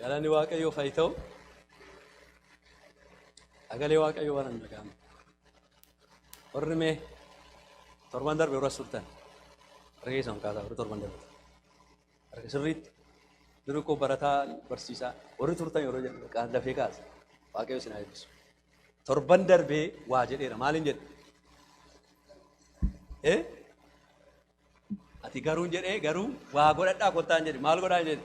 Galanni Waaqayyoof haa ta'u. Sagalee Waaqayyoo waan hin dhaga'amne. Warri mee torban darbe warra turtan harka keessan ol kaasaa warri torban darbe harka sirriitti duri koo barataa barsiisaa warri turtan yeroo jedhu kaan dafee kaasa waaqayyo isin haa eebbisu. Torban darbee waa jedheera maaliin jedhe? Eh? Ati garuun jedhee garuu waa godhadhaa kottaan jedhe maal godhaan jedhe.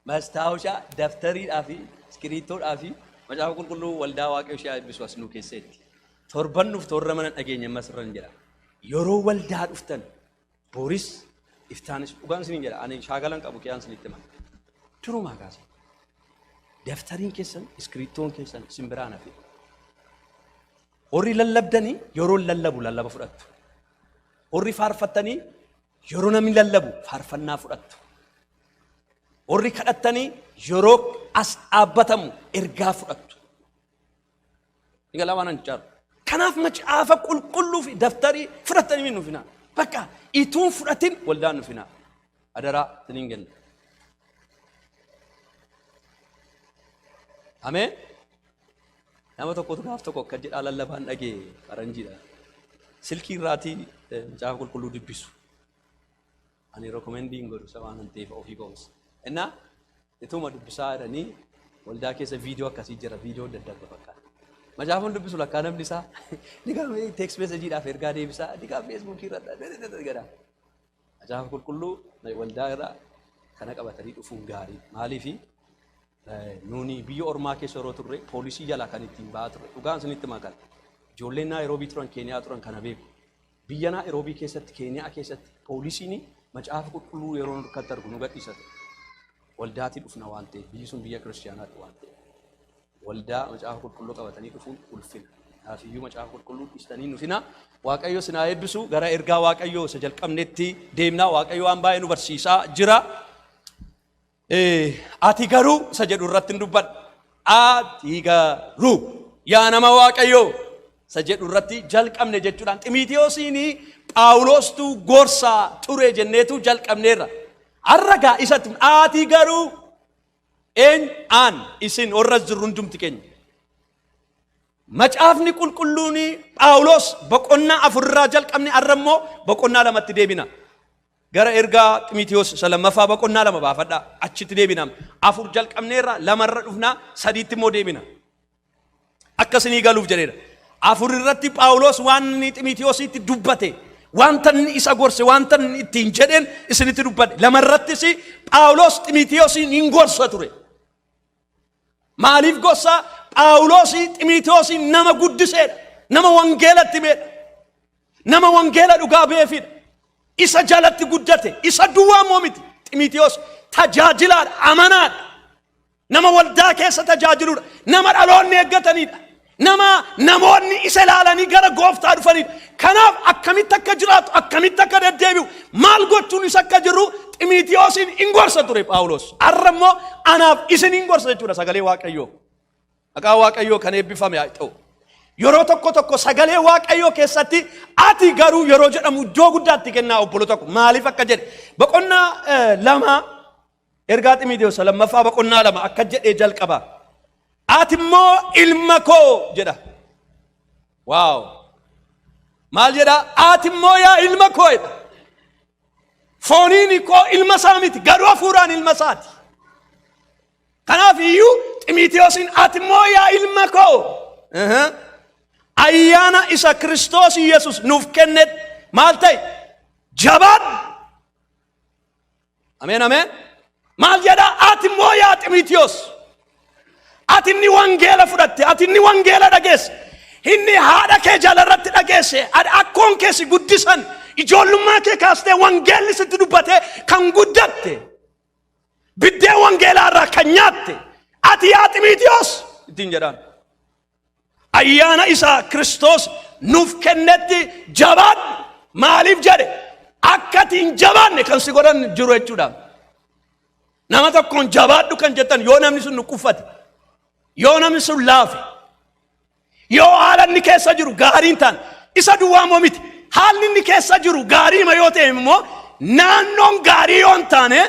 Mastaawushaa, daftariidhaa fi iskiriittoodhaa fi macaafa qulqulluu waldaa waaqayyo ishee eebbisu as nuu keesseetti. Torban nuuf torra mana dhageenya ammas irra hin jedha. Yeroo waldaa dhuftan booris iftaanis dhugaan isin hin jedha. Ani shaakalan qabu kiyaan isinitti hima. Durumaa kaasa. Daftariin keessan iskiriittoon keessan isin biraan hafe. Warri lallabdanii yeroon lallabu lallaba fudhattu. Warri faarfattanii yeroo namni lallabu faarfannaa fudhattu. Warri kadhattanii yeroo as dhaabbatamu ergaa fudhattu. Ni galaa waan ani jaaru. Kanaaf macaafa qulqulluu fi daftarii fudhattanii min nufinaa. Bakka ituun fudhatin waldaan nufinaa. Adaraa sinin kenna. Ameen. Nama tokkotu gaaf tokko akka jedhaa lallabaan dhagee faranjiidha. Silkii irraatii eh, macaafa qulqulluu dubbisu. Ani rekomendii hin godhu isa waan hin ta'eef ofii koomsa. Innaa ituma dubbisaa jedhanii waldaa keessa viidiyoo akkasii jira viidiyoo adda addaa fakkaata. Macaafni dubbisu lakkaa namni isaa ni gaafii teeks meesejiidhaaf ergaa deebisaa ni gaafii feesbuukii irra jedha. Macaafa Qulqulluu waldaa irra kana qabatanii dhufuun gaarii maaliif nuuni biyya ormaa keessa yeroo turre poolisii jalaa kan ittiin ba'aa turre dhugaan isinitti makan ijoolleen naayiroobii turan keeniyaa turan kana beeku biyya naayiroobii keessatti keeniyaa keessatti poolisiin macaafa qulqulluu yeroo harkatti argu nu gadhiisatu waldaatii dhufna waan ta'eef biyyi sun biyya kiristiyaanaatti waan ta'eef Waldaa Macaafa Qulqulluu qabatanii dhufuun ulfina. Kanaafiyyu Macaafa Qulqulluu dhiistanii hin dhufinaa. Waaqayyo isin haa eebbisu. Gara ergaa Waaqayyoo isa jalqabnetti deemnaa. Waaqayyo waan baay'ee nu barsiisaa jira. Eh, Ati garuu isa jedhu irratti hin dubbadha. Ati garuu yaa nama Waaqayyoo isa jedhu irratti jalqabne jechuudhaan Ximiitiyoosiin Phaawulostu gorsaa ture jenneetu jalqabneerra. Har'a gaa isatti ati garuu Eenyu? Aan, isin, warra as jirru hundumti keenya. Macaafni qulqulluun Phaawulos boqonnaa afur irraa jalqabne har'a immoo boqonnaa lamatti deebina. Gara ergaa Ximitiyoos isa lammaffaa boqonnaa lama baafadha. Achitti deebina. Afur jalqabneerra lamarra dhufna sadiitti immoo deebina. Akka isinii galuuf jedheera. Afur irratti Phaawulos waan inni Ximitiyoositti dubbate, wanta inni isa gorse, wanta inni ittiin jedheen isinitti dubbate. Lama irrattis Phaawulos Ximitiyoosiin hin gorsa ture. Maaliif gorsa? Phaawulos Ximitiyoosiin nama guddiseedha. Nama wangeelatti himeedha. Nama wangeela dhugaa beefiidha. Isa jalatti guddate. Isa duwwaa immoo miti. Ximitiyoos tajaajilaadha, amanaadha. Nama waldaa keessa tajaajiludha. Nama dhaloonni eeggatanidha. Nama namoonni isa ilaalanii gara gooftaa dhufanidha. Kanaaf akkamitti akka jiraatu, akkamitti akka deddeebi'u, maal gochuun isa akka jiru Ximiitiyoosiin in gorsa ture Phaawulos. Har'a immoo anaaf isin in gorsa jechuudha sagalee Waaqayyoo. Maqaa Waaqayyoo kan eebbifame haa ta'u. Yeroo tokko tokko sagalee Waaqayyoo keessatti ati garuu yeroo jedhamu iddoo guddaatti kennaa obboloota koo maaliif akka jedhe boqonnaa eh, lama Ergaa Ximiitewos isa lammaffaa boqonnaa lama akka jedhee jalqaba. Ati immoo ilma koo jedha. Waaw! Maal jedha? Ati immoo yaa ilma koo jedha. Fooniin koo ilma isaa miti garuu hafuuraan ilma isaati. Kanaaf iyyuu Ximiitewosiin ati immoo yaa ilma koo Aha. ayyaana isa Kiristoos Yesus nuuf kennetti maal ta'e? Jabaadhu! Ameen ameen. Maal jedha ati immoo yaa Ximitiyoos. Ati inni wangeela fudhatte, ati inni wangeela dhageesse, inni haadha kee jalarratti dhageesse, ad- akkoon kee si guddisan, ijoollummaa kee kaastee wangeelli sitti dubbate kan guddatte, biddeen wangeelaa irraa kan nyaatte, ati yaa Ximitiyoos ittiin jedhaan. ayyaana isaa Kiristoos nuuf kennetti jabaadhu. Maaliif jedhe akka ati hin jabaanne kan si godhan jiru jechuudha. Nama tokkoon jabaadhu kan jettan yoo namni sun nuqqufate, yoo namni sun laafe, yoo haala inni keessa jiru gaarii hin taane isa duwwaa immoo miti. Haalli inni keessa jiru gaariima yoo ta'e immoo naannoon gaarii yoo hin taane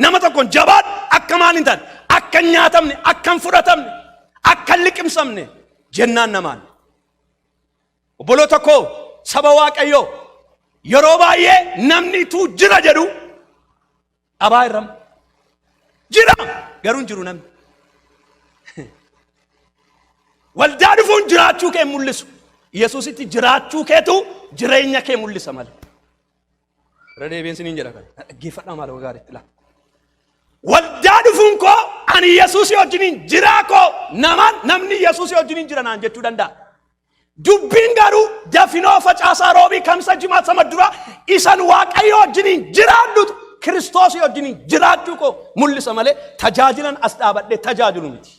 Nama tokkoon jabaadhu akka maal hin taane akka hin nyaatamne akka hin fudhatamne akka hin liqimsamne jennaan namaan. Obboloota koo saba waaqayyoo yeroo baay'ee namni tuu jira jedhu dhabaa irra jira garuu hin jiru namni. Waldaa dhufuun jiraachuu kee hin mul'isu. Yesuusitti jiraachuu keetu jireenya kee mul'isa malee. Irra deebiin siniin jedha kan. Dhaggeeffadhaa maal ogaa gaariitti laata. Waldaa dhufuun koo ani Yesuusii wajjiniin jiraa koo namaan namni Yesuusii wajjiniin jira naan jechuu danda'a. Dubbiin garuu dafinoo facaasaa roobii kamsa jimaa sama dura isan waaqayyo wajjiniin jiraadhutu kiristoosii wajjiniin jiraachuu koo mul'isa malee tajaajilan as dhaabadhee tajaajilu miti.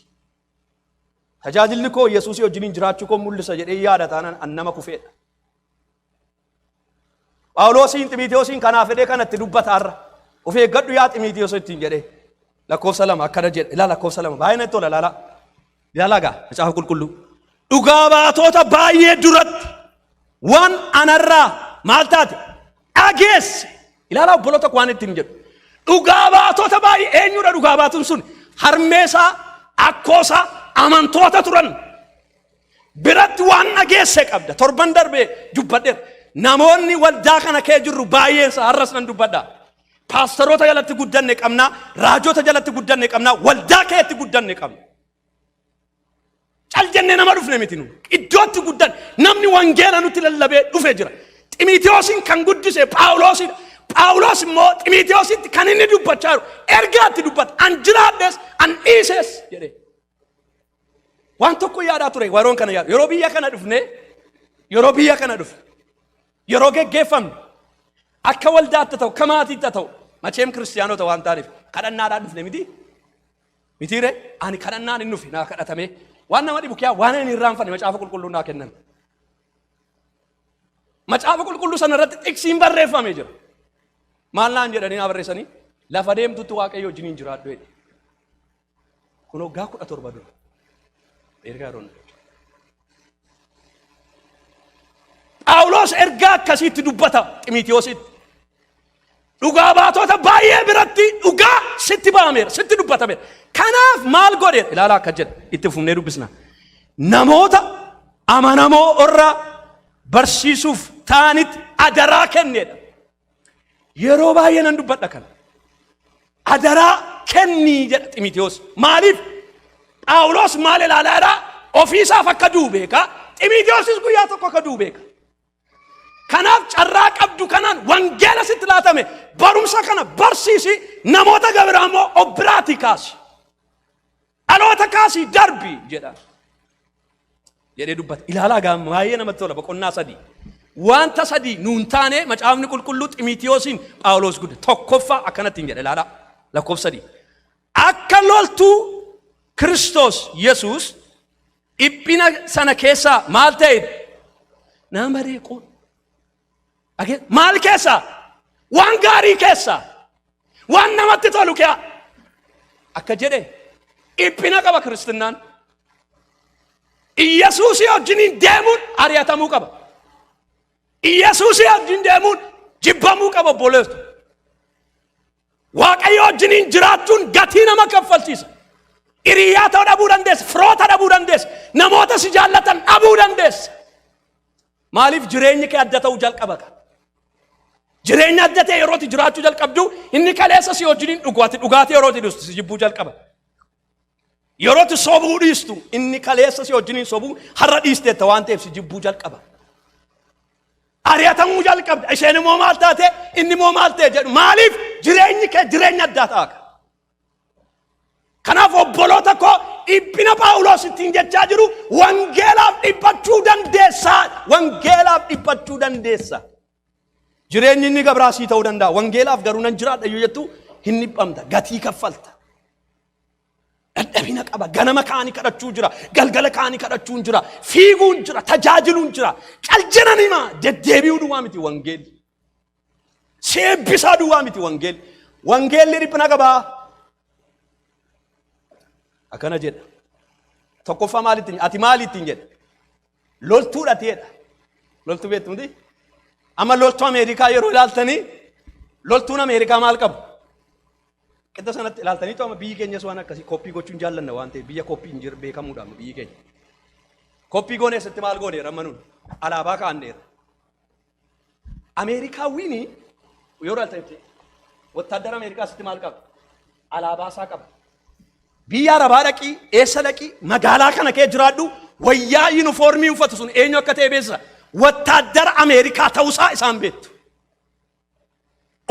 Tajaajilli koo Yesuusii wajjiniin jiraachuu koo mul'isa jedhee yaada taanaan an nama kufeedha. Phaawuloosiin Ximiitiyoosiin kanaaf jedhee kanatti dubbata har'a. Of eeggadhu yaa Ximiitiyoos ittiin jedhee. Lakkoofsa lama akkana jedhe. Ilaa lakkoofsa lama baay'ee natti tola ilaalaa. Ilaalaa gaa macaafa qulqulluu. Dhugaa baatota baay'ee duratti waan anarraa maal taate dhageesse. Ilaalaa obbolo tokko waan ittiin jedhu. Dhugaa baatota baay'ee eenyudha dhugaa baatun sun harmeesaa akkoosaa amantoota turan biratti waan dhageesse qabda. Torban darbe dubbadheera. Namoonni waldaa kana kee jirru baay'eensa har'as nan dubbadha. Paastaroota jalatti guddanne qabna, raajota jalatti guddanne qabna, waldaa keetti guddanne qabna. Cal jennee nama dhufne miti nu. Iddootti guddan namni wangeela nutti lallabee dhufe jira. Ximiitiyoosiin kan guddise Phaawuloosidha. Phaawuloos immoo Ximiitiyoositti kan inni dubbachaa jiru ergaatti dubbata. An jiraadhes, an dhiises jedhee. Waan tokko yaadaa ture waroon kana yaadu. Yeroo biyya kana dhufne, yeroo biyya kana dhufne, yeroo geggeeffamne, akka waldaatti ta'u, akka maatiitti ta'u, macheem kiristiyaanota waan taaniif kadhannaadhaan dhufne miti. Mitiire ani kadhannaan hin dhufe naa kadhatamee waan nama dhibu kiyaa waan ani irraanfanne macaafa qulqulluu naa kenname. Macaafa qulqulluu sana irratti xiqsiin barreeffamee jira. Maal naan jedhanii naa barreessanii lafa deemtutti waaqayyo wajjiniin jiraadhu jedhe. Kun waggaa kudha torba dura. Ergaa Roon. Phaawulos ergaa akkasiitti dubbata Ximitiyoositti. Dhugaa baatota baay'ee biratti dhugaa sitti ba'ameera, sitti dubbatameera. Kanaaf maal godhe? Ilaala akka jedha itti fufnee dubbisna. Namoota amanamoo irraa barsiisuuf ta'anitti adaraa kennedha. Yeroo baay'ee nan dubbadha kana. Adaraa kennii jedha Ximitewoos. Maaliif? Phaawulos maal ilaalaa jira? Ofiisaaf akka du'u beeka. Ximitewosis guyyaa tokko akka du'u beeka. Kanaaf carraa qabdu kanaan wangeela sitti laatame barumsa kana barsiisi namoota gabiraa immoo of biraatii kaasi. Dhaloota kaasii darbi jedha. Jedhee dubbata. Ilaalaa gaa baay'ee namatti tola boqonnaa sadii. Wanta sadii nuun taane macaafni qulqulluu Ximiitiyoosiin Phaawulos gudda tokkoffaa akkanatti hin jedha ilaalaa lakkoofsa sadii. Akka loltuu Kiristoos Yesuus dhiphina sana keessaa maal ta'e nama reequun Dhage- Maal keessa? Waan gaarii keessa. Waan namatti tolu keessa. Akka jedhe dhiphina qaba kiristinnaan. Iyyasuusii wajjiniin deemuun ari'atamuu qaba. Iyyasuusii wajjin deemuun jibbamuu qaba obboleessu. Waaqayyo wajjiniin jiraachuun gatii nama kaffalchiisa. Hiriyaa ta'uu dhabuu dandeessa, firoota dhabuu dandeessa, namoota si jaallatan dhabuu dandeessa. Maaliif jireenyi kee adda ta'uu jalqaba ka? Jireenya adda ta'e yeroo ati jiraachuu jalqabdu inni kaleessa si wajjin hin dhugu ati dhugaatii yeroo ati dhiistu si jibbuu jalqaba. Yeroo ati sobuu dhiistu inni kaleessa si wajjin hin sobuu har'a dhiisteetta waan ta'eef si jibbuu jalqaba. Ari'atamuu jalqabda isheen immoo maal taate inni immoo maal ta'e jedhu maaliif jireenyi kee jireenya addaa ta'a ka? Kanaaf obboloota koo dhiphina Phaawulos ittiin jechaa jiru wangeelaaf dhiphachuu dandeessaa wangeelaaf dhiphachuu dandeessa. Jireenyi inni gabraa sii ta'uu danda'a wangeelaaf garuu nan jiraadha yoo jettu hin dhiphamta gatii kaffalta. Dadhabina qaba ganama kaanii kadhachuu jira galgala kaanii kadhachuun jira fiiguun jira tajaajiluun jira cal jedhan himaa deddeebi'uu duwwaa miti wangeelli. Si eebbisaa duwwaa miti wangeelli. Wangeelli dhiphina qabaa. Akkana jedha. Tokkoffaa maal ittiin ati maal ittiin jedha? Loltuudha ati jedha. Loltuu beektu miti? Amma loltuu Ameerikaa yeroo ilaaltanii loltuun Ameerikaa maal qabu? Qixa sanatti ilaaltanii amma biyyi keenyas waan akkasii koppii gochuun jaallanna waan ta'eef biyya koppii hin jiru beekamuudha amma biyyi keenya. Koppii goone eessatti maal goone rammanuun alaabaa kaa'anneera. Ameerikaawwiin yoo ilaaltanitti wottaaddara Ameerikaa asitti maal qaba? Alaabaa isaa qaba. Biyya Arabaa dhaqii, eessa dhaqii, magaalaa kana kee jiraadhu, wayyaa yuunifoormii uffatu sun eenyu akka ta'e beeksisa. Wottaaddara Ameerikaa ta'uusaa isaan beektu.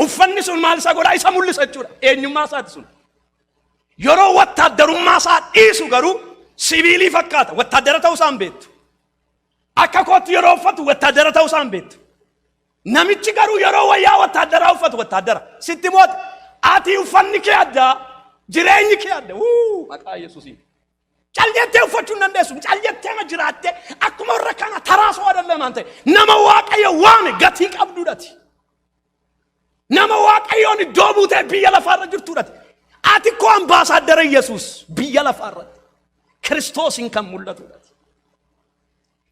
Uffanni sun maal isaa godhaa isa mul'isa jechuudha. Eenyummaa isaati sun. Yeroo wottaaddarummaa isaa dhiisu garuu sibiilii fakkaata. Wottaaddara ta'uu isaan beektu. Akka kootti yeroo uffatu wattaaddara ta'uu isaan beektu. Namichi garuu yeroo wayyaa wattaaddaraa uffatu wattaaddara. Sitti moote ati uffanni kee addaa jireenyi kee adda. Wuu maqaa Yesuusiin. Cal jettee uffachuu hin dandeessu. Cal jettee ma jiraattee akkuma warra kana taraasoo adallee maan ta'e nama waaqayyo waame gatii qabduudhati. Nama Waaqayyoon iddoo buutee biyya lafaarra jirtuudhati. Ati koo ambaasaaddara Yesuus biyya lafaarratti Kiristoosiin kan mul'atuudhati.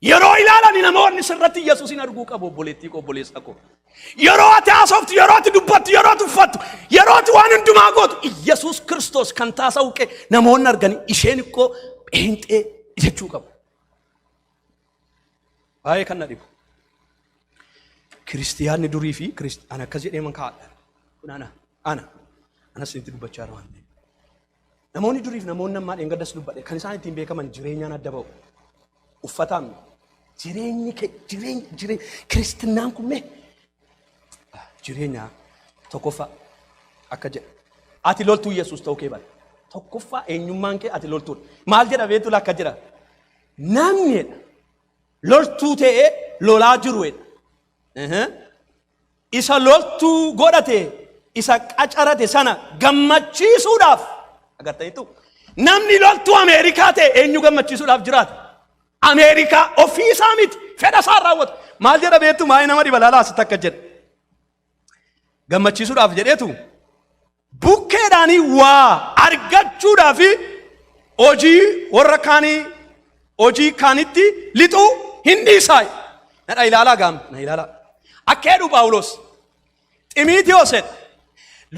Yeroo ilaalani namoonni sirratti Yesuusin arguu qabu obboleettii koo obboleessa koo. Yeroo ati haasoftu, yeroo ati dubbattu, yeroo ati uffattu, yeroo ati waan hundumaa gootu Yesuus Kiristoos kan taasa'u kee namoonni arganii isheen koo pheenxee jechuu qabu. Baay'ee kan na dhibu. Kiristiyaanni durii fi Kirist- ana akkas jedhee man kaa'adha. Kun ana. Ana. Anas isinitti dubbachaa jira waan ta'eef. Namoonni durii fi namoonni ammaa dheengaddas dubbadhe kan isaan ittiin beekaman jireenyaan adda ba'u. Uffataan jireenyi kee jireenyi jireenyi kiristinnaan kun mee jireenya tokkoffaa akka jedha. Ati loltuu Yesuus ta'uu kee bara. Tokkoffaa eenyummaan kee ati loltuudha. Maal jedha beektu lakka jedha. Namni jedha loltuu ta'ee lolaa jiru jedha. Ehe. Isa loltuu godhate isa qacarate sana gammachiisuudhaaf agartaniitu namni loltuu Ameerikaa ta'e eenyu gammachiisuudhaaf jiraata. Ameerikaa ofii isaa miti fedha isaa raawwatu. Maal jedha beektu maayii nama dhibalaalaa asitti akka jedha. Gammachiisuudhaaf jedheetu bukkeedhaanii waa argachuudhaa fi hojii warra kaanii hojii kaanitti lixuu hin dhiisaa nadha ilaalaa gaam na ilaalaa akka jedhu phaawulos ximiitiyoos jedha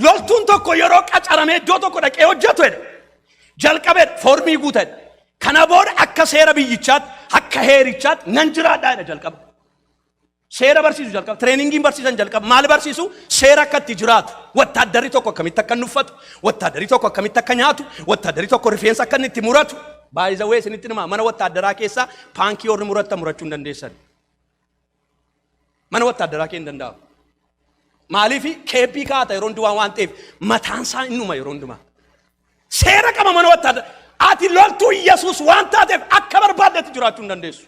loltuun tokko yeroo qacaramee iddoo tokko dhaqee hojjetu jedha jalqabee foormii guutan kana booda akka seera biyyichaatti akka heerichaatti nan jiraadhaa jedha jalqaba Seera barsiisu jalqaba. Tireeningiin barsiisan jalqaba. Maal barsiisu? Seera akka itti jiraatu. Wattaaddarri tokko akkamitti akka inni uffatu, wattaaddarri tokko akkamitti akka nyaatu, wattaaddarri tokko rifeensa akka inni itti muratu. Baay'isawwee isinitti himaa mana wattaaddaraa keessaa paankii warri muratta murachuu hin dandeessan. Mana wattaaddaraa kee hin danda'amu. Maaliif keebbii kaata yeroo hundumaa waan ta'eef mataan isaa innuma yeroo hundumaa. Seera qaba mana wattaadara. Ati loltuu Yesuus waan taateef akka barbaaddetti jiraachuu hin dandeessu.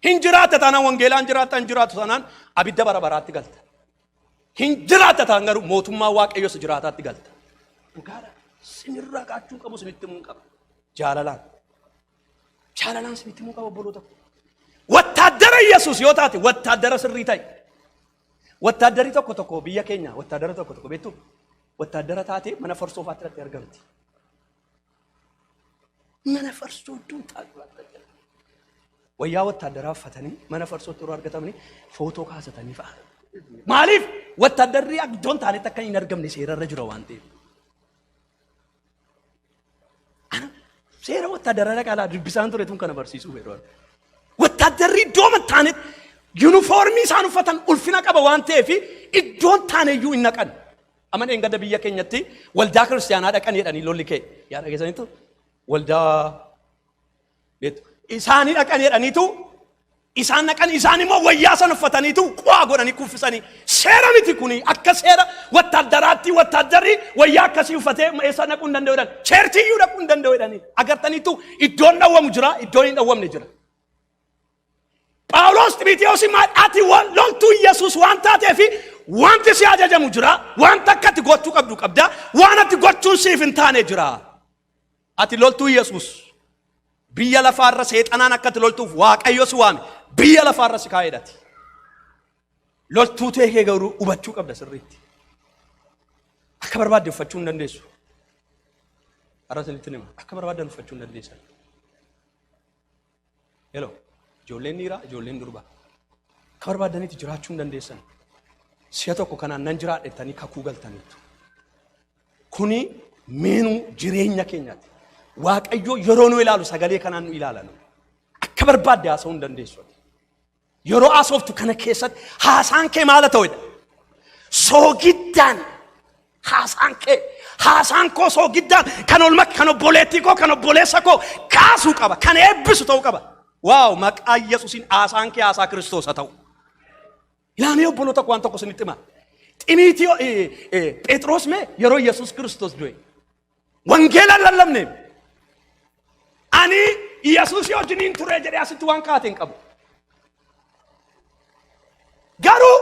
Hin jiraatta taanaan wangeelaan jiraatta hin jiraattu taanaan abidda bara baraatti galta. Hin jiraatta taanaan garuu mootummaa waaqayyoos jiraataatti galta. Dhugaadha. Sinirraa kaachuu qabu sinitti himuu hin qabu. Jaalalaan. Jaalalaan sinitti himuu qaba obboloota. Wattaaddara Yesuus yoo taate wattaaddara sirrii ta'e. Wattaaddarri tokko tokko biyya keenya wattaaddara tokko tokko beektu wattaaddara taatee mana farsoo faatti irratti argamti. Mana farsoo iddoo taatu wayyaa wattaaddaraa uffatanii mana farsootti yeroo argatamanii footoo kaasatanii fa'a. Maaliif wattaaddarri iddoon taanetti akka hin argamne seerarra jira waan ta'eef. Seera wattaaddaraa qaalaa dubbisaan ture tun kana barsiisuu yeroo wattaaddarri iddoo mattaanetti yuunifoormii isaan uffatan ulfina qaba waan ta'eef iddoon taaneyyuu hin naqan. Amma dheengadda biyya keenyatti waldaa kiristaanaa dhaqan jedhanii lolli ka'e. Yaa dhageessaniittu waldaa Beektu? Isaanii dhaqan jedhaniitu isaan dhaqan isaan immoo wayyaa sana uffataniitu qo'aa godhanii kuffisanii seera miti kuni akka seera wattaaddaraatti wattaaddarri wayyaa akkasii uffatee eessa dhaquu hin danda'u jedhan cheerchii iyyuu dhaquu hin danda'u jedhanii agartaniitu iddoon dhawwamu jira iddoon hin dhawwamne jira. Phaawulos Ximiteewosiin maal ati wa- loltuu Yesuus waan taateef wanti si ajajamu jira wanta akka ati gochuu qabdu qabda waan ati gochuun siif hin taane jira. Ati loltuu Yesuus. Biyya lafaarra seexanaan akka ati loltuuf Waaqayyo si waame. Biyya lafaarra si kaa'eedhati. Loltuu ta'e kee garuu hubachuu qabda sirriitti. Akka barbaadde uffachuu hin dandeessu. Har'a isinitti hima. Akka barbaaddan uffachuu hin dandeessan. Hello. Ijoolleen dhiiraa, ijoolleen durbaa. Akka barbaaddanitti jiraachuu hin dandeessan. Si'a tokko kanaan nan jiraadhettanii kakuu galtaniittu. Kuni meenuu jireenya keenyaati. Waaqayyo yeroo nu ilaalu sagalee kanaan nu ilaala. Akka barbaadde haasa'uu hin dandeessu. Yeroo haasoftu kana keessatti haasaan kee maala ta'edha. Soogiddaan haasaan kee haasaan koo soogiddaan kan olma kan obboleettii koo kan obboleessa koo kaasuu qaba kan eebbisu ta'uu qaba. Waaw maqaa Yesuusiin haasaan kee haasaa Kiristoos haa ta'u. Ilaamee obboloota waan tokko isinitti hima. Ximiitiyoo Phexros mee yeroo Yesuus Kiristoos du'e Wangeela hin lallabneef. Ani Yesuusii wajjiniin ture jedhee asitti waan kaa'ate hin qabu. Garuu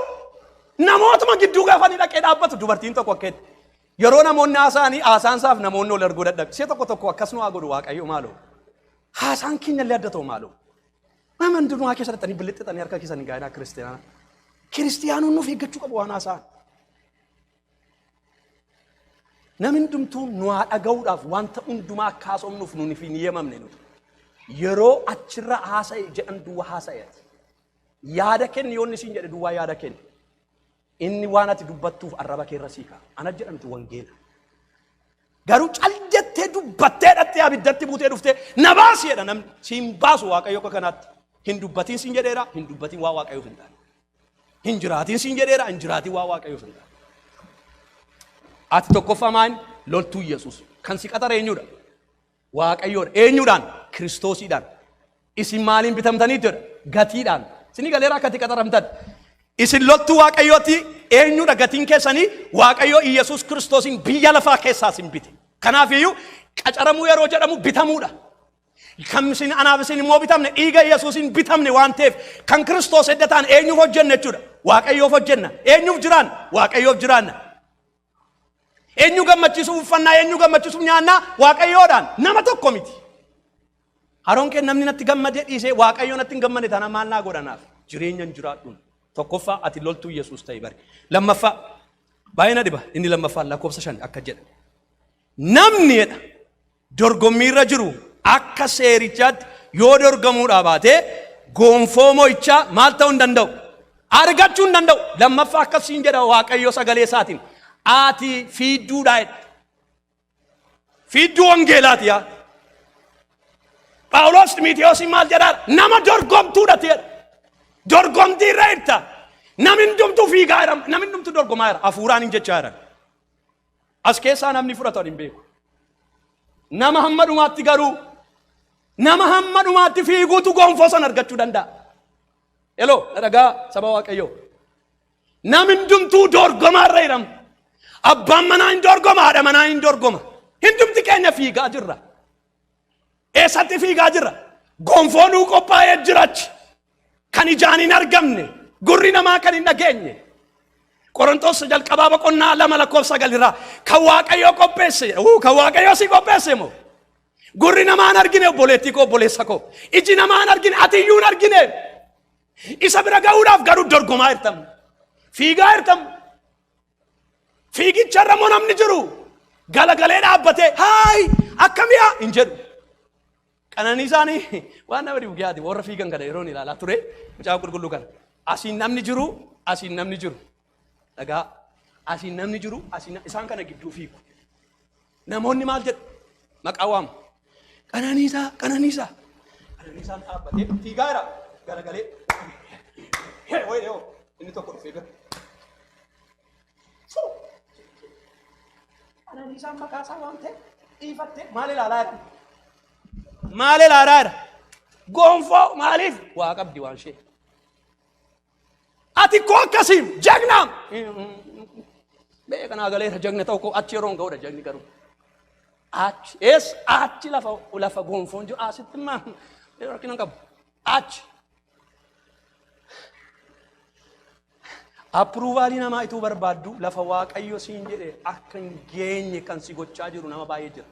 namootuma gidduu gaafa inni dhaqee dhaabbatu dubartiin tokko akka itti yeroo namoonni haasa'anii haasaan isaaf namoonni ol arguu dadhabe. Ishee tokko tokko akkas nu haa godhu waaqayyo maaloo. Haasaan keenya illee adda ta'u maaloo. Nama hundumaa keessa dhattanii bilixxixanii harka keessan hin gaa'inaa kiristiyaanaa. Kiristiyaanoon nuuf eeggachuu qabu waan haasa'an. Namni hundumtuu nu haa dhaga'uudhaaf wanta hundumaa akka haasofnuuf nuun hin yemamne nuti. Yeroo achirra haasa'e jedhan duwwaa haasa'eeti. Yaada kenni yoonni siin jedhe duwwaa yaada kenni. Inni waan ati dubbattuuf arraba keerra sii ka'a. Ana jedhamtu wangeela. Garuu cal jettee dubbattee dhattee abiddatti buutee dhuftee na baasi jedha namni. Siin baasu waaqayyo akka kanaatti. Hin dubbatiin siin jedheera, hin dubbatiin waa waaqayyoof hin taane. Hin jiraatiin siin jedheera hin jiraatiin waa waaqayyo sun. Ati tokkoffaa maal loltuu Yesuus kan si qaxare eenyudha? Waaqayyoodha. Eenyudhaan? Kiristoosiidhaan. Isin maaliin bitamtanii jedha? Gatiidhaan. Isin galeera akkati qaxaramtan. Isin loltuu waaqayyooti eenyudha gatiin keessanii waaqayyo Yesuus Kiristoosiin biyya lafaa keessaa isin bite. Kanaafiyyuu qacaramuu yeroo jedhamu bitamuudha. Kan isin anaaf isin immoo bitamne dhiiga Yesuusiin bitamne waan ta'eef kan Kiristoos edda ta'an eenyuuf hojjenna jechuudha. Waaqayyoof hojjenna. Eenyuuf jiraanna? Waaqayyoof jiraanna. Eenyu gammachiisuuf uffannaa, eenyu gammachiisuuf nyaannaa Waaqayyoodhaan nama tokko miti. Haroon kee namni natti gammadee dhiisee Waaqayyoo natti hin gammade taana maal naa godhanaaf? Jireenya hin jiraadhuun. Tokkoffaa ati loltuu Yesuus ta'e bari. Lammaffaa baay'ee na dhiba inni lammaffaan lakkoofsa shan akka jedha. Namni jedha dorgommiirra jiru akka seerichaatti yoo dorgamuudhaa baate goonfoo mo'ichaa maal ta'uu hin danda'u? Argachuu hin danda'u. Lammaffaa akkas siin jedha Waaqayyo sagalee isaatiin. Ati fiidduudhaa jedha. Fiidduu wangeelaati yaa. Phaawulos Ximiitiyoosiin maal jedhaa? Nama dorgomtuudha ti jedha. Dorgomtii irra jirta. Namni hundumtuu fiigaa jira. Namni hundumtuu dorgomaa jira. Hafuuraan hin jechaa jira. As keessaa namni fudhatan hin beeku. Nama hamma dhumaatti garuu nama hamma dhumaatti fiiguutu gonfoo san argachuu danda'a. Eloo na dhagaa saba waaqayyoo. Nam hundumtuu dorgomaa irra hiramu. Abbaan manaa hin dorgoma, haadha manaa hin dorgoma. Hundumti keenya fiigaa jirra. Eessatti fiigaa jirra? Gonfoo nuu qophaa'ee jirachi. Kan ijaan hin argamne, gurri namaa kan hin dhageenye. Qorontos jalqabaa boqonnaa lama lakkoofsa sagal irraa kan Waaqayyoo qopheesse, uu, kan Waaqayyoo si qopheesse moo? Gurri namaa hin argine obboleettii koo obboleessa koo. Iji namaa hin argine ati iyyuu hin argine. Isa bira ga'uudhaaf garuu dorgomaa jirtam. Fiigaa jirtam. Fiigicha irra immoo namni jiru galagalee dhaabbatee haayi akkamii haa hin jedhu. Qananii isaanii waan nama dhibu yaadi warra fiigan kana yeroon ilaalaa ture mucaa qulqulluu kana. Asiin namni jiru asiin namni jiru dhagaa asiin namni jiru asiin isaan kana gidduu fiigu. Namoonni maal jedhu? Maqaa waamu. Qananiisaa, qananiisaa. Qananiisaan dhaabbatee fiigaa jira. Garagalee. Hee, wayii dhiyoo. Inni tokko dhufee bira. Fuu! Qananiisaan maqaa isaa waamtee dhiifattee maal ilaalaa jira? Maal ilaalaa jira? Gonfoo maaliif? Waa qabdi waan ishee. Ati koo akkasiim jagnaam. Bee kanaa galeera jagna ta'u koo achi yeroon ga'udha jagni garuu. Achi ees achi lafa lafa gonfoon jiru asitti immaa rakkina hin qabu. Achi. Approvalii namaa ituu barbaaddu lafa waaqayyo siin jedhe akka hin geenye kan si gochaa jiru nama baay'ee jira.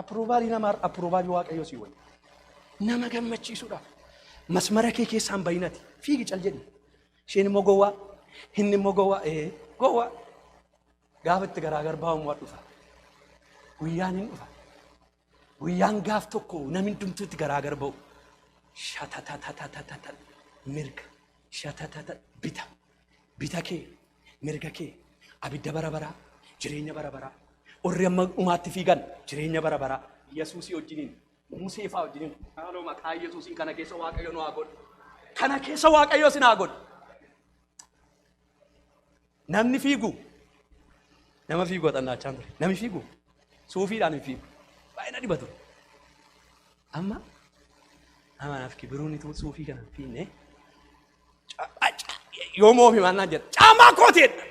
Approval namaa approval waaqayyoo sii wayya. Nama gammachiisuudhaaf masmara kee keessaan bayinati fiigi cal jedhi. Isheen immoo gowwaa inni immoo gowwaa ee gowwaa gaafa itti garaagar baa'uun waa dhufa. Guyyaan hin dhufa. Guyyaan gaaf tokko namni hundumtuu itti garaagar ba'u. Shatatatatatata mirga shatatata bita bita kee Mirga kee abidda bara baraa jireenya bara baraa warri amma dhumaatti fiigan jireenya bara baraa Yesuusii wajjiniin Musee fa'aa wajjiniin haaloo maqaa Yesuusiin kana keessa Waaqayyo nu haa godhu. Kana keessa Waaqayyo isin haa godhu. Namni fiigu nama fiigu xannaachaa ture. Namni fiigu suufiidhaan hin fiigu. Baay'ee na dhibatu. Amma amanaaf kibiruun ituu suufii kana hin fiigne yoom oofi maal naan jedha caamaa kooteedha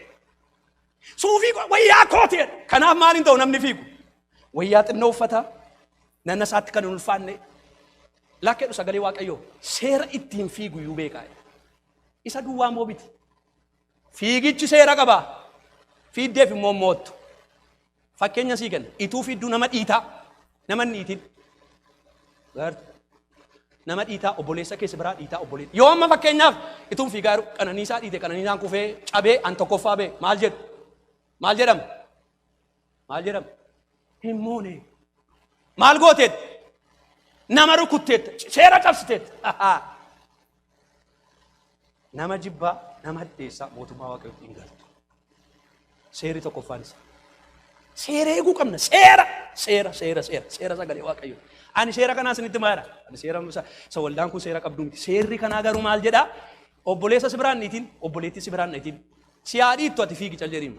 suufii koo- wayyaa kooteedha kanaaf maal hin ta'u namni fiigu wayyaa xinnoo uffata nanna isaatti kan hin ulfaanne lakkeedhu sagalee waaqayyoo seera ittiin fiigu iyyuu beekaa isa duwwaa moo biti fiigichi seera qaba fiiddeef immoo moottu Fakkeenya sii kenna. Ituu fi idduu nama dhiitaa. Nama hin dhiitin. Gaartu. Nama dhiitaa obboleessa keessa biraa dhiitaa obboleessa. Yoo amma fakkeenyaaf ituun fiigaa jiru qananiisaa dhiite qananiisaan kufee cabee an tokkoffaa bee maal jedhu? Maal jedhama? Maal jedhama? Hin moone. Maal gooteetta? Nama rukutteetta. Seera cabsiteetta. Nama jibbaa, nama hadheessaa mootummaa waaqayyootti hin galtu. Seerri tokkoffaan isaa. Seera eeguu qabna. Seera, seera, seera, seera, seera sagalee waaqayyoo. Ani seera kanaa isinitti maara. Ani seera isa isa waldaan kun seera qabdu miti. Seerri kanaa garuu maal jedha? Obboleessa si biraan niitiin, obboleettii si biraan niitiin. Si haa dhiittu ati fiigi cal jedhiin.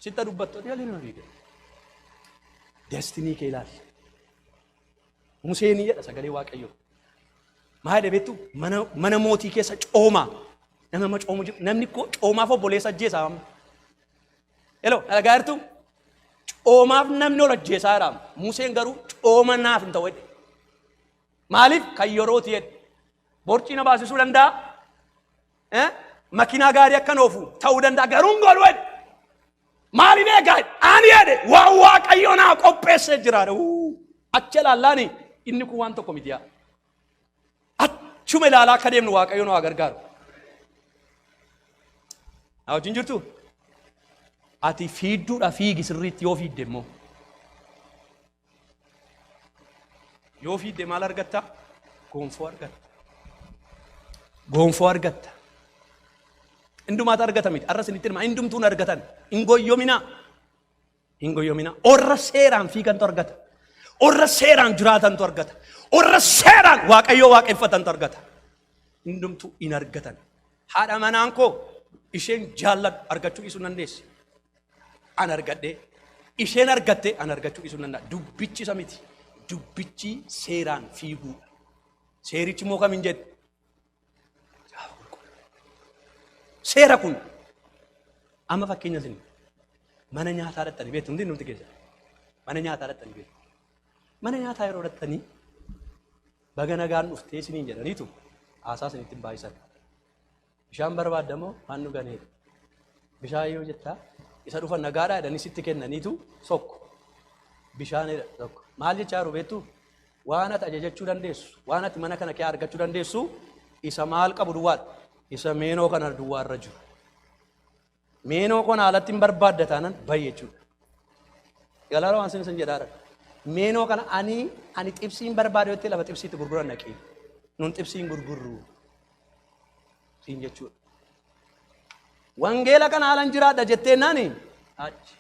Sitta dubbattu ati jalli nama fiigde. Destinii kee ilaali. Museenii jedha sagalee waaqayyoo. Maa jedhe beektu mana, mana mootii keessa coomaa. Nama amma coomu jiru. Namni koo coomaaf obboleessa ajjeesaa amma. Eloo dhalagaa jirtu coomaaf namni ol ajjeesaa jira. Museen garuu cooma naaf hin ta'u jedhe. Maaliif kan yerooti jedhe. Borcii na baasisuu danda'a. Eh? Makinaa gaarii akkan oofu ta'uu danda'a garuu hin godhu jedhe. Maaliin eegaa jedhe. Ani jedhe waan waaqayyo naa qopheessee jira. Uu, Achi ilaallaani inni kun waan tokko miti yaa. Achuma ilaalaa akka deemnu waaqayyo nu haa gargaaru. Na wajjin jirtu? Ati fiidduudha fiigi sirriitti yoo fiidde immoo. Yoo fiidde maal argatta? Gonfoo argatta. Gonfoo argatta. Hindumaatu argata miti. Arra isinitti hima. Hindumtuun argatan. Hin goyyominaa. Hin goyyominaa. Orra seeraan fiigantu argata. Orra seeraan jiraatantu argata. Orra seeraan waaqayyoo waaqeffatantu argata. Hindumtuu hin argatan. Haadha manaan koo isheen jaalladhu argachuu dhiisuu dandeessi. an argadhee isheen argatte an argachuu dhiisuu nan danda'a. Dubbichi isa miti. Dubbichi seeraan fiiguudha. Seerichi immoo kamiin jedhe? Caafa qulqulluu. Seera kun amma fakkeenya isin mana nyaataa dhattanii beektu hundi nuti keessa. Mana nyaataa dhattanii beektu. Mana nyaataa yeroo dhattanii baga nagaan dhuftee isiniin jedhaniitu haasaa isinitti hin baay'isan. Bishaan barbaadda moo haan dhuganii? Bishaan yoo jettaa isa dhufa nagaadhaa jedhanii sitti kennaniitu tokko bishaan jedha tokko. Maal jechaa jiru beektuu? Waan ati ajajachuu dandeessu, waan ati mana kana kee argachuu dandeessu isa maal qabu duwwaadha. Isa meenoo kana duwwaarra jiru. Meenoo koo naalatti hin barbaadda taanan bayi jechuudha. Galaala waan sin sin jedhaara. Meenoo kana ani ani xibsii hin barbaadu jettee lafa xibsiitti gurguran dhaqii. Nun xibsii hin gurgurru. Siin jechuudha. Wangeela kana haalan jiraadha jettee naani achi.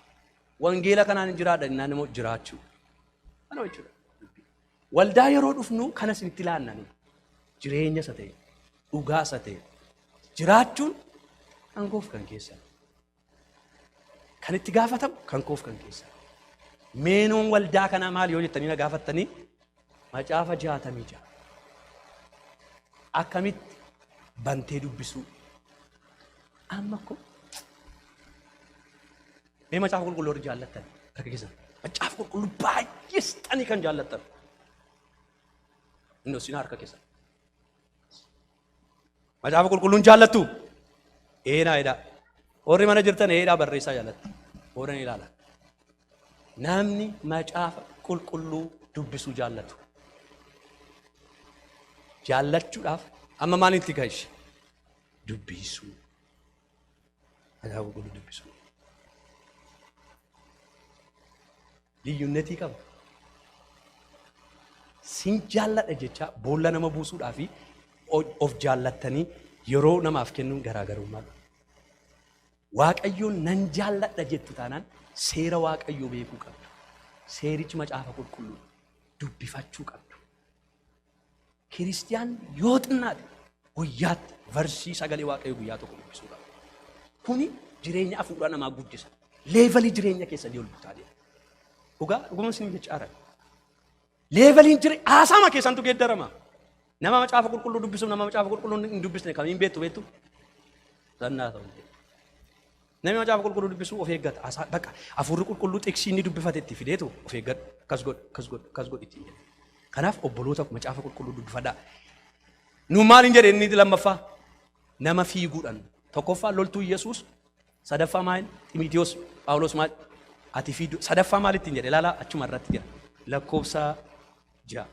Wangeela kanaan hin jiraadha innaan immoo jiraachuu. Kana jechuudha. Waldaa yeroo dhufnu kana isinitti laanna nu. Jireenya isa ta'e, dhugaa isa ta'e jiraachuun kan koof kan keessan. Kan itti gaafatamu kan koof kan keessan. Meenuun waldaa kanaa maal yoo jettanii na gaafattanii macaafa jaatamii ja'a. Akkamitti bantee dubbisuu? Amma ko Mee macaafa qulqulluu warri jaallattan harka keessan. Macaafa qulqulluu baay'ee sixanii kan jaallattan. Inni hosinaa harka keessan. Macaafa qulqulluun jaallattu. Eenaa edaa. Warri mana jirtan eedhaa barreessaa jaallattu. Warri ni ilaala. Namni macaafa qulqulluu dubbisuu jaallatu. Jaallachuudhaaf amma maalitti gahe? Dubbisuu. Macaafa Qulqulluu dubbisuu. Liyyunnetii qaba. Sin jaalladha jecha boolla nama buusuudhaa fi o- of jaallattanii yeroo namaaf kennuun garaagarummaa qaba. Waaqayyoon nan jaalladha jettu taanaan seera Waaqayyoo beekuu qabdu. Seerichi macaafa qulqulluu dubbifachuu qabdu. Kiristiyaan yoo xinnaate guyyaatti varsii sagalee waaqayyo guyyaa tokko dubbisuu qaba. Kuni jireenya hafuuraa namaa guddisa. Leevalii jireenya keessanii ol gutaa deema. Dhugaa dhuguma isin jecha arag. Leevaliin jire haasaama keessantu geeddarama. Nama macaafa qulqulluu dubbisuuf nama macaafa qulqulluu hin dubbisne kamiin beektu beektu? Zannaa ta'u. Namni macaafa qulqulluu dubbisu of eeggata. Haasaa baqa hafuurri qulqulluu xiksii inni dubbifate itti fideetu of eeggadhu. Akkas godhu, akkas godhu, akkas godhu ittiin jedhe. Kanaaf obboloota macaafa qulqulluu dubbifadhaa. Nu maal hin jedhe inni lammaffaa? Nama fiiguudhaan. Tokkoffaa loltuu Yesuus, sadaffaa maal? Ximitiyoos, Phaawulos maal? Ati fiidu. Sadaffaa maal ittiin jedhe? Ilaalaa achuma irratti jira. Lakkoofsa ja'a.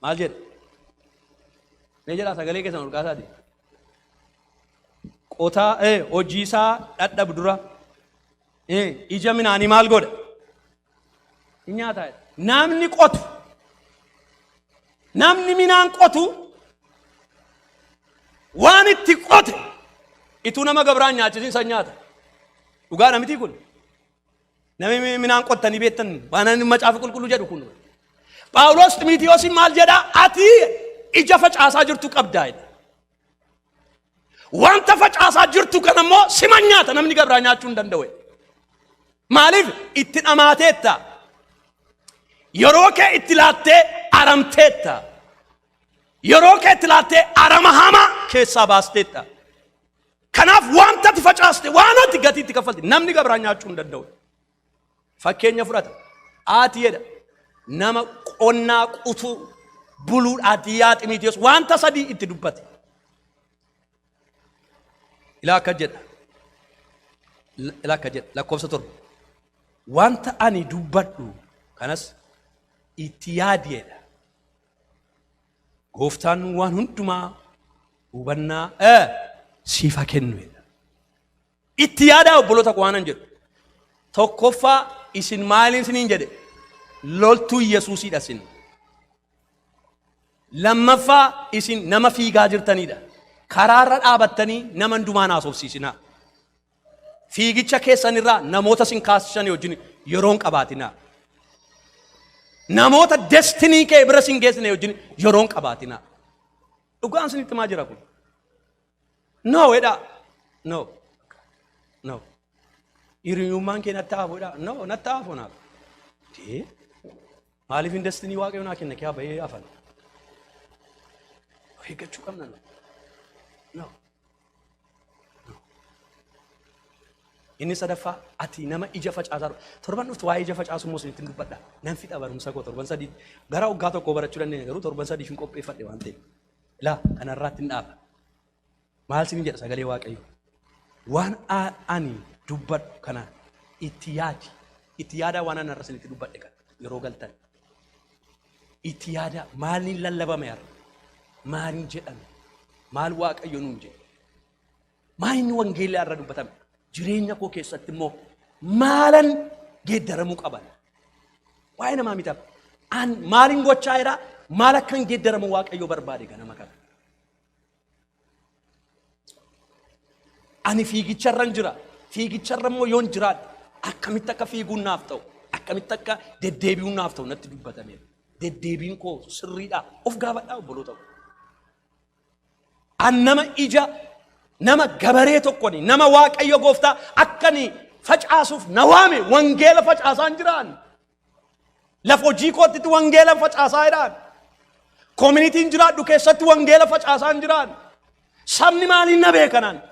Maal jedhe? Mee jedhaa sagalee keessan ol kaasaati. qotaa eh, hojii isaa dhadhabu dura eh, ija minaanii maal godha hin nyaataa jedha. namni qotu namni minaan qotu waan itti qote ituu nama gabraan nyaachisiin san nyaata dhugaa namitii kun Namni minaan qottanii beektan waan inni macaafa qulqulluu jedhu kun. Phaawulos Ximitiyoosiin maal jedha? Ati ija facaasaa jirtu qabdaa jedha. Wanta facaasaa jirtu kan ammoo sima nyaata namni gabraa nyaachuu hin danda'u. Maaliif itti dhamaateetta? Yeroo kee itti laattee aramteetta. Yeroo kee itti laattee arama hamaa keessaa baasteetta. Kanaaf wanta ati facaaste waan ati gatii itti kaffalte namni gabraa nyaachuu hin danda'u. Fakkeenya fudhata. Ati jedha nama qonnaa qutuu buluudhaati yaa Ximiitiyoos wanta sadii itti dubbate. Ilaa akka jedha. Ilaa akka jedha lakkoofsa torba. Wanta ani dubbadhu kanas itti yaadi jedha. Gooftaan waan hundumaa hubannaa eh, siif haa kennu. jedha. Itti yaadaa obboloota koo waanan jedhu. Tokkoffaa isin maaliin isiniin jedhe? Loltuu Yesuusiidha isin. Lammaffaa isin nama fiigaa jirtanidha. Karaarra dhaabattanii nama hundumaan haasofsiisinaa. Fiigicha keessan irraa namoota sin kaasisan wajjin yeroo hin qabaatinaa. Namoota destinii kee bira sin geessine wajjin yeroo hin qabaatinaa. Dhugaan sinitti maa jira kun? No jedha. No. No. Hiriyummaan kee natti haafudha. No natti haafunaaf. Dee. Maaliifin destinii waaqayyo naa kenne kiyaa bahee afan. Of eeggachuu qabna nu. No. Inni sadaffaa ati nama ija facaasaa dha. Torban dhuftu waa'ee ija facaasuu immoo isinitti dubbadha. Nan fixa barumsa koo torban sadii gara waggaa tokkoo barachuu dandeenya garuu torban sadii hin qopheeffadhe waan ta'eef. Laa kanarraatti hin dhaaba. Maal siin jedha sagalee Waaqayyo? Waan ani dubbadhu kana itti yaadi. Itti yaadaa waan ani har'a isinitti dubbadhe kana yeroo galtan. Itti yaadaa maaliin lallabame har'a? Maaliin jedhame? Maal Waaqayyo nuun jedhe? Maal inni wangeelli har'a dubbatame? Jireenya koo keessatti immoo maalan geeddaramuu qaban? Waa'ee namaa mitaaf. An maalin gochaa jira? Maal akkan geeddaramu Waaqayyo barbaade ganama kana? Ani fiigicharran jira. Fiigicharra immoo yoon jiraadhe akkamitti akka fiiguun naaf ta'u akkamitti akka deddeebi'uun naaf ta'u natti dubbatameera. Deddeebiin koo sirriidhaa of gaafadhaa obboloota koo. An nama ija nama gabaree tokkoni nama waaqayyo gooftaa akkani facaasuuf na waame wangeela facaasaan jiraan Lafa hojii kootti wangeela facaasaa jiraan. Koominitiin jiraadhu keessatti wangeela facaasaa hin jiraan. Sabni maaliin na beekanaan?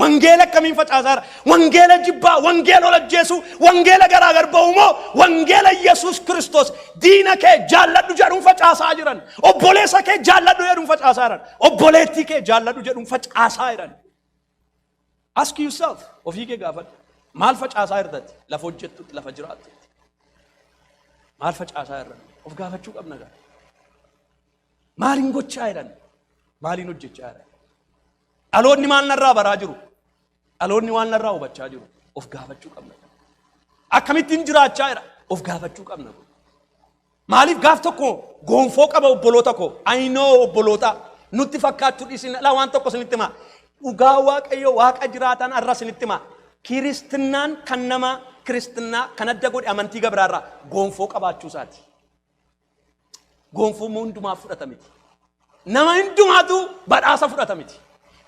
Wangeela akkamiin facaasaa jira? Wangeela jibbaa, wangeela ol ajjeesuu, wangeela garaa gar ba'uu moo wangeela Yesuus Kiristoos diina kee jaalladhu jedhuun facaasaa jiran. Obboleessa kee jaalladhu jedhuun facaasaa jiran. Obboleettii kee jaalladhu jedhuun facaasaa jiran. Ask yourself, ofii kee gaafadhu. Maal facaasaa irratti? Lafa hojjettutti, lafa jiraattutti. Maal facaasaa irratti? Of gaafachuu qabna gaa. Maaliin gochaa jiran? Maaliin hojjechaa jiran? Dhaloonni maal narraa baraa jiru? Dhaloonni waan narraa hubachaa jiru? Of gaafachuu qabna. Akkamittiin jiraachaa jira? Of gaafachuu qabna. Maaliif gaaf tokko goonfoo qaba obboloota koo. Ayinoo obboloota nutti fakkaachuu dhiisin ala waan tokko isinitti himaa. Dhugaa waaqayyo waaqa jiraataan arra isinitti himaa. Kiristinnaan kan nama kiristinnaa kan adda godhe amantii gabiraarraa goonfoo qabaachuu isaati. Goonfoo immoo hundumaaf fudhata miti. Nama hundumaatu badhaasa fudhata miti.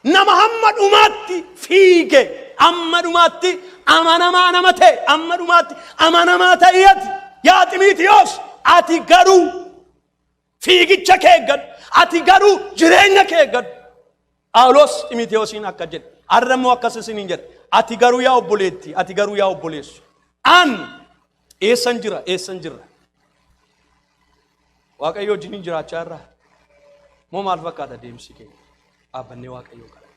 Nama hamma dhumaatti fiige, amma dhumaatti amanamaa nama ta'e, amma dhumaatti amanamaa ta'e ati. Yaa Ximiitiyoos, ati garuu fiigicha kee eeggadhu. Ati garuu jireenya kee eeggadhu. Phaawulos Ximitewoosiin akka jedhe, har'a immoo akkas isiniin jedha. Ati garuu yaa obboleetti, ati garuu yaa obboleessu. An eessan jira, eessan jirra. Waaqayyo wajjiniin jiraachaa irraa moo maal fakkaata deemsi keenya? Dhaabbannee Waaqayyoo kadhanna.